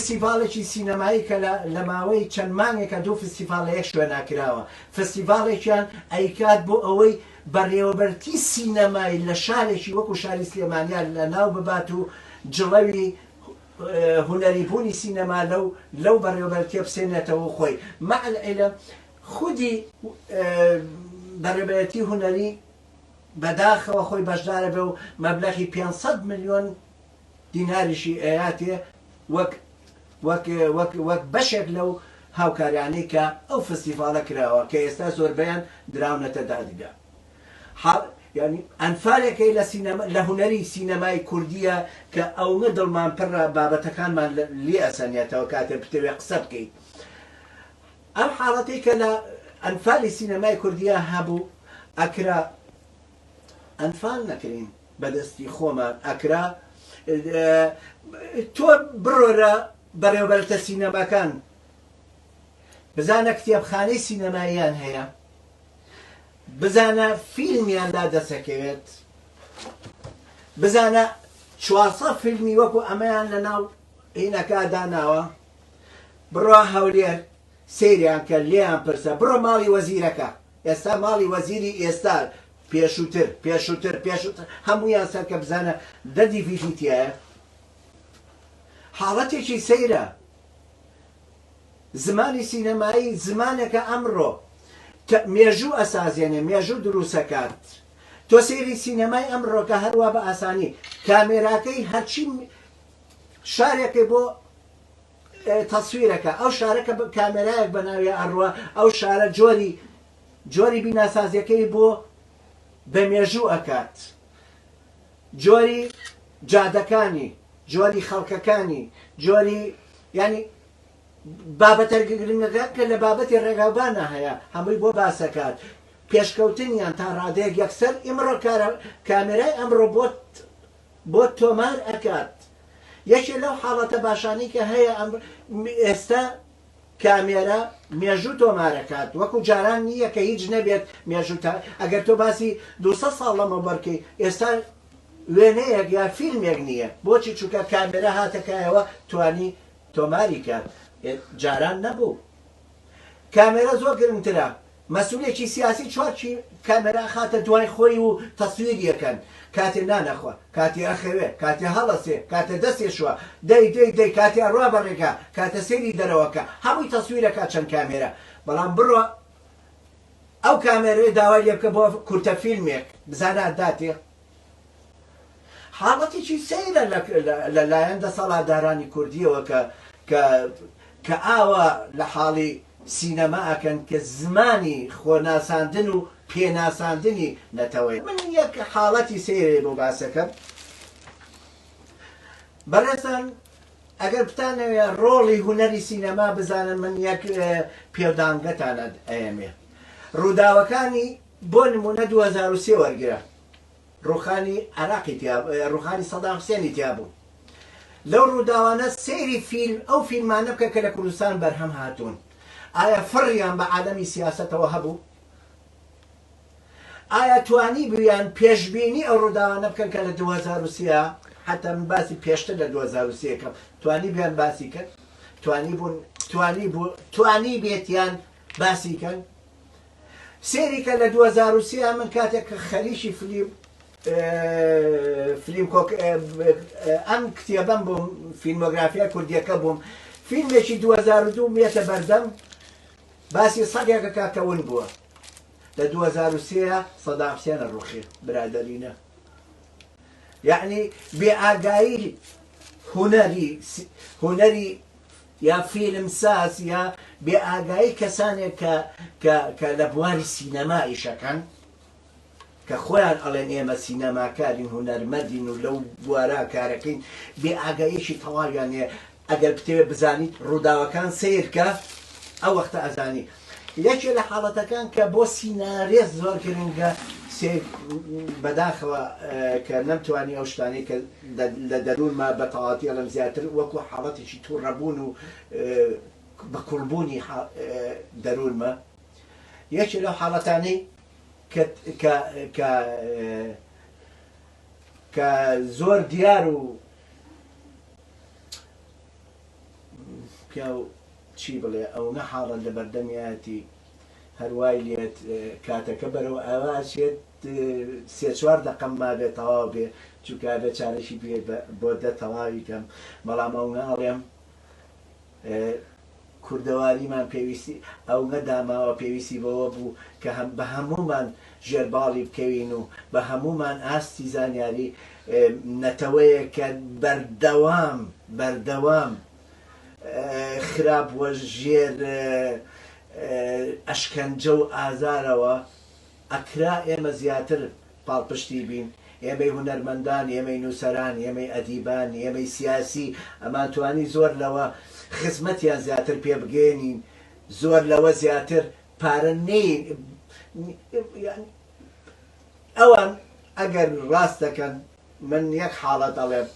فستیڤاڵێکی سینەمایی کە لە ماوەی چەند مانگێکە دوو فستیڤاڵ لە یەک شوێنا کراوە فستیڤاڵێکیان ئەیکات بۆ ئەوەی بەڕێوەبەرتی سینەمایی لە شارێکی وەکو شاری سلێمانیان لە ناو ببات و جڵەوی هونەری بوونی سینەما لەو لەو بەڕێوەبەرە تێبسێنێتەوە و خۆی مع العلم خودی بەڕێوەبەرێتی هونەری بەداخەوە خۆی بەشدارە بێ و مەبلەغی پێنج سەد ملیۆن دیناریشی ئەیاتێ وەک وەک وەک وەک بەشێک لەو هاوکاریانەی کە ئەو فستیڤاڵە کراوە کە ئێستا زۆربەیان دراونەتە دادگا. ئەنفالێکەی لە سینەما لە هونەری سینەمای کوردیە کە ئەونە دڵمان پررە بابەتەکانمان لێ ئەسەنێتەوە کاتێ بتەوێ قسە بکەیت ئەم حاڵەتەی کە لە ئەنفالی سینەمای کوردیە هەبوو ئەکرا ئەنفال نەکرین بەدەستی خۆمان ئەکرا تۆ بڕۆرە بەڕێوبەرتە سینەماکان بزانە کتێبخانەی سینەماییان هەیە بزانە فیلمیان لا دەسەکەوێت بزانە چوارسە فیلمی وەکو ئەمەیان لە ناو هینەکە داناوە بڕوا هەولێر سریان کە لێیان پرسە بڕۆ ماڵی وەزیرەکە ئێستا ماڵی وەزیری ئێستا پێشووتر پێشووتر پێشووتر هەمویان سەر کە بزانە دەدی فیشیتیایە حاڵەتێکی سەیرە زمانی سینەمایی زمانێکە ئەمڕۆ کە مێژوو ئەسازێنێ، مێژوو دروستەکات. تۆ سەیری سینەمای ئەمڕۆ کە هەر وا بە ئاسانی کامێراکەی هەرچی شارێکێ بۆ تەسویر ئەکا، ئەو شارە کە کامێرایەک بە ناویا ئەڕوا، ئەو شارە جۆری جۆری بیناسازیەکەی بۆ بە مێژوو ئەکات. جۆری جادەکانی، جۆری خەڵکەکانی، جۆری یانی بابەتە گرنگەکان کە لە بابەتی ڕێگاوبانە هەیە هەمووی بۆ باسەکات پێشکەوتنیان تا ڕادەیەک یەکسەر ئیمڕۆ کارە کامێرای ئەمڕۆ بۆت بۆ تۆمار ئەکات یەکێ لەو حاڵەتە باشانی کە هەیە ئەم ئێستا کامێرە مێژوو تۆمارەکات وەکو جاران نییە کە هیچ نەبێت مێژوو تا ئەگەر تۆ باسی دوو سەد ساڵ لەمەوبەر کەی ئێستا وێنەیەک یا فیلمێک نییە بۆچی چونکە کامێرە هاتە کایەوە توانی تۆماری کات جاران نەبوو کامێرە زۆر گرنگترە مەسولێکی سیاسی چوار کامێرا خاتە دوای خۆی و تەسویری ئەکەن کاتێ نان ئەخوا کاتێ ئەخەوێ کاتێ هەڵەسێ کاتێ دەستێ شوا دەی دەی دەی کاتێ ئەڕوا بە ڕێگا کاتە سەیری دەرەوەکا هەمووی تەسویر ئەکا چەند کامێرا بەڵام بڕۆ ئەو کامێرەیە داوای لێ بکە بۆ کورتە فیلمێک بزانە داتێ حاڵەتێکی سەیرە لە لایەن دەسەڵاتدارانی کوردییەوە کە کە کە ئاوا لە حاڵی سینەما ئەکەن کە زمانی خۆناساندن و پێناساندنی نەتەوەیە. من یەک حاڵەتی سەیرێ بۆ باس ئەکەم. بەڕێزان ئەگەر بتانەوێ ڕۆڵی هونەری سینەما بزانن من یەک پێودانگەتان ئەیەمێ. ڕووداوەکانی بۆ نموونە دوو هەزار و سێ وەرگرە ڕووخانی عێراقی تیا ڕووخانی سەدام حوسێنی تیا بوو لەو ڕووداوانە سەیری فیلم ئەو فیلمانە بکە کە لە کوردستان بەرهەم هاتوون ئایا فڕیان بە عالەمی سیاسەتەوە هەبوو ئایا توانی بویان پێشببینی ئەو ڕووداوانە بکەن کە لە 2023 حتا من باسی پێشتر لە 2023 کەم توانی بیان باسی کرد توانی بوون توانی بوو توانی بێتیان باسی کەن سێری کە لە دوو هەزار و سێ من کاتێک کە خەریکی فلیم فلیم کۆک ئەم کتێبەم بووم فیلمۆگرافیا کوردیەکە بووم فیلمێکی 2002 مێتە بەردەم باسی سەدێکە کاکەون بووە لە 2023 سەدام حسێنە ڕوخی برادەرینە یعنی بێ ئاگایی هوەری هوەری یا فیلم ساز یا بێ ئاگایی کەسانێک کە کە کە لە بواری سینەما ئیشەکەن کە خۆیان ئەڵێن ئێمە سینەماکارین هونەرمەدین و لەو بوارا کارەکەین بێ ئاگایەکی تەواویان هەیە ئەگەر بتەوێت بزانیت ڕووداوەکان سیرکە ئەو وەختە ئەزانی یەکێ لە حاڵەتەکان کە بۆ سینارێست زۆر گرنگە سێک بەداخەوە کە نەمتوانی ئەو شتانەی کە لە دەروونما بە تەواوەتی ئەڵێم زیاتر وەکو حاڵەتێکی توڕەبوون و بە کوڵبوونی دەروونمە یەکێ لەو حاڵەتانەی کە زۆر دیار و پیاو چی بڵێ ئەونە حاڵە لەبەردەمیایەتی هەر وای لێت کاتەکە بەرەو ئاوا ئەچێت سێ چوار دەقەم مابێ تەواو بێ چونکە ئەبێ چارەکی بێ بۆ دە تەواوی کەم بەڵام ئەونە ئەڵێم کوردەواریمان پێویستی ئەونە داماوە پێویستی بەوە بوو کە هەم بە هەموومان ژێرباڵی بکەوین و بە هەموومان ئاستی زانیاری نەتەوەیەک کە بەردەوام بەردەوام خراپ و ژێر ئەشکەنجە و ئازارەوە ئەکرا ئێمە زیاتر پاڵپشتی بین ئێمەی هونەرمەندان ئێمەی نووسەران ئێمەی ئەدیبان ئێمەی سیاسی ئەمانتوانی زۆر لەوە خزمەتیان زیاتر پێ بگەێنین زۆر لەوە زیاتر پارە نین ئەوان ئەگەر ڕاست دەکەن من یەک حاڵەت ئەڵێم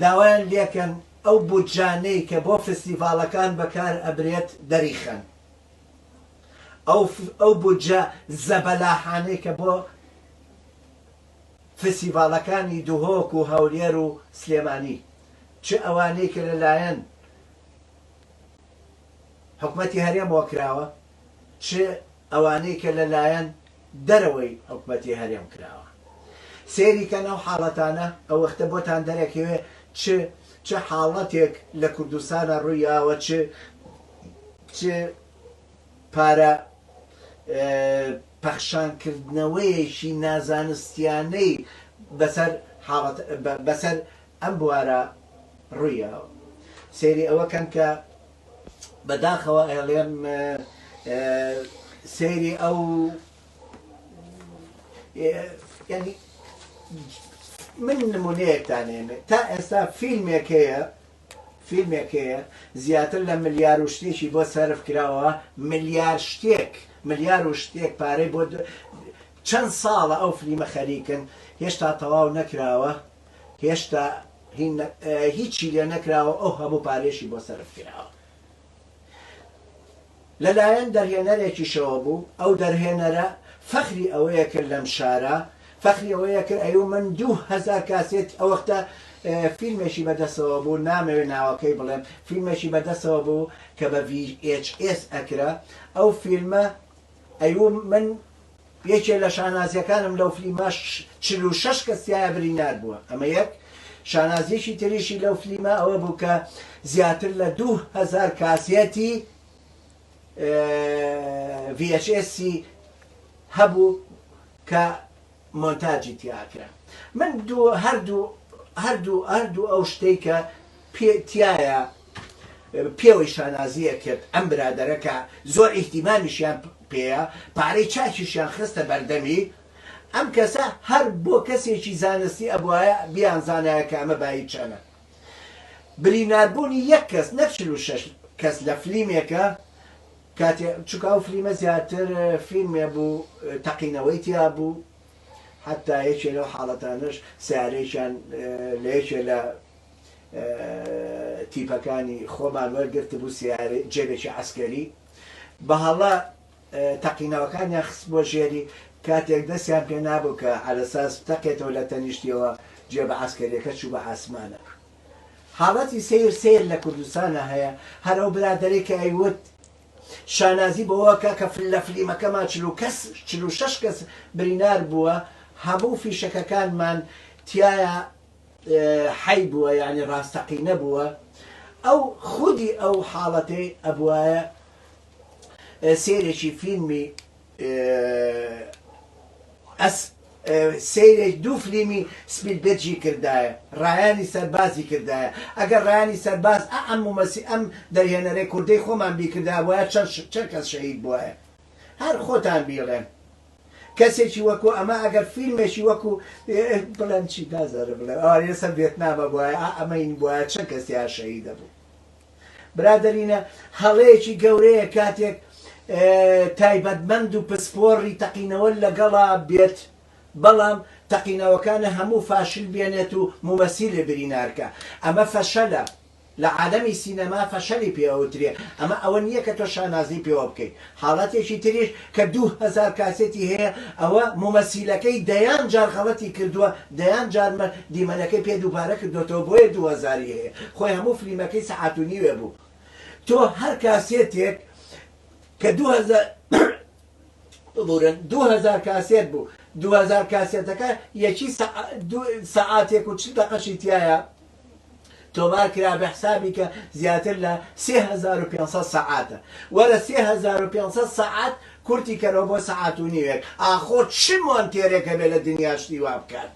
داوایان لێکەن ئەو بودجانەی کە بۆ فستیڤاڵەکان بەکار ئەبرێت دەریخەن ئەو بودجە زەبەلاحانەی کە بۆ فستیڤاڵەکانی دهۆک و هەولێر و سلێمانی چ ئەوانەی کە لەلایەن حکومەتی هەرێمەوە کراوە چ ئەوانەی کە لە لایەن دەرەوەی حکومەتی هەرێم کراوە سەیری کەن ئەو حاڵەتانە ئەوەختە بۆتان دەرەکەوێ چ چ حاڵەتێک لە کوردستانە ڕووی یاوە چ چ پارە پەخشان کردنەوەیەکی نازانستیانەی بەسەر حاڵەت بەسەر ئەم بوارە ڕووی یاوە سەیری ئەوە کەن کە بە داخەوە ئەیڵێم سەیری ئەو من نمونەیەکتانێنێ تا ئێستا فیلمێکەیە فیلمێکەیە زیاتر لە ملیار و شتێکی بۆ سرف کراوە ملیار شتێک ملیار و شتێک پارەی بۆ چەند ساڵە ئەو فلیمە خەریکن هێشتا تەواو نەکراوە هێشتا هیچی لێ نەکراوە ئەو هەموو پارەیەشی بۆ سەرف کراوە لە لایەن دەرهێنەرێکیشەوە بوو ئەو دەرهێنەرە فەخری ئەوەیە کرد لەم شارە فەخری ئەوەیە کرد ئەی و من دوو هەزار کاسێت ئەوەختە فیلمێکی بەدەسەوە بوو نامەوێ ناوەکەی بڵێم فیلمێکی بەدەسەوە بوو کە بە VHS ئەکرا ئەو فیلمە ئەی و من یەکێ لە شانازیەکانم لەو فلیمە چل و شەش کەس تیایا برینار بووە ئەمە یەک شانازیەکی تریشی لەو فلیمە ئەوە بوو کە زیاتر لە دوو هەزار کاسێتی VHS هەبوو کە مۆنتاجی تیاکرا من دوو هەردوو هەردوو هەردوو ئەو شتەی کە تایە پێوەی شانازی ئەکرد ئەم برادەرە کە زۆر ئیهتیمامیشیان پێیە پارەی چاکیشیان خستە بەردەمی ئەم کەسە هەر بۆ کەسێکی زانستی ئەبوایە بیانزانایە کە ئەمە بایی چەنە بریناربوونی یەک کەس نەک چل و شەش کەس لە فلیمێکە کاتێ چونکە ئەو فلیمە زیاتر فیلمێ بوو تەقینەوەی تیا بوو حەتا یەکێ لەو حاڵەتانەش سیارەیەکیان لە یەکێ لە تیپەکانی خۆمان وەرگرتبوو سەیارەی جێبێکی عەسکەری بە هەڵە تەقینەوەکانیان خستبووە ژێری کاتێک دەستیان پێ نابوو کە عەرەساس تەقێتەوە لە تەنیشتیەوە جێبە عەسکەریەکە چوو بە ئاسمانە حاڵەتی سیر سیر لە کوردستانە هەیە هەر ئەو برادەرەی کە ئەیوت شانازی بەوەکە کە فل لە فلیمەکەمان چل و کەس چل و شەش کەس برینار بووە هەموو فیشەکەکانمان تایە حەی بووە یانی ڕاستەقینە بووە ئەو خودی ئەو حاڵەتەی ئەبوایە سێرێکی فیلمی ئەس سەیرێک دوو فلیمی سپیلبێرجی کردایە ڕایانی سەربازی کردایە ئەگەر ڕایانی سەرباز ئەم مەسی ئەم دەرهێنەرەی کوردەی خۆمان بیکردایە وایە چەند چەند کەس شەهید بواە هەر خۆتان بیڵێن کەسێکی وەکو ئەمە ئەگەر فیلمێکی وەکو بڵێم چی نازانم بڵێم ئەوانەی لەسەر ڤێتنامە بوایە ئا ئەمەین بوایە چەند کەس تیا شەهید دەبوو برادەرینە هەڵەیەکی گەورەیە کاتێک تایبەتمەند و پسپۆڕی تەقینەوە لەگەڵا بێت بەڵام تەقینەوەکانە هەموو فاشل بێنێت و مومەسیلێ برینارکە ئەمە فەشەلە لە عالەمی سینەما فەشەلی پێ ئەوترێ، ئەمە ئەوە نییە کە تۆ شانازی پێوە بکەیت. حاڵەتێکی تریش کە دوو هەزار کاسێتی هەیە، ئەوە مومەسیلەکەی دەیان جار غەڵەتی کردووە، دەیان جار مە دیمەنەکەی پێ دووبارە کردۆتەوە بۆیە دوو هەزار ی هەیە، خۆی هەموو فلیمەکەی سەعات و نیوێ بوو. تۆ هەر کاسێتێک کە دوو هەزار ببورن دوو هەزار کاسێت بوو، دوو هەزار کاسێتەکە یەکی سەعات سەعاتێک و چل دەقەشی تیایە، تۆمار کرا بە حسابی کە زیاتر لە سێ هەزار و پێنج سەد سەعاتە وەرە سێ هەزار و پێنج سەد سەعات کورتی کەرەوە بۆ سەعات و نیوێک ئاخۆ چ مۆنتێرێک هەبێ لە دنیا شتی وا بکات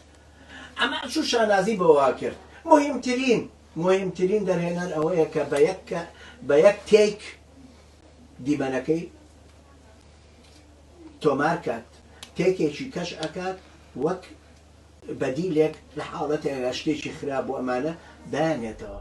ئەمە چوو شانازی بۆ وا کرد مهمترین مهمترین دەرهێنەر ئەوەیە کە بە یەک بە یەک تێک دیمەنەکەی تۆمار کات تێکێکی کەش ئەکات وەک بەدیلێک لە حاڵەتێکدا شتێکی خراپ بۆ ئەمانە دانێتەوە.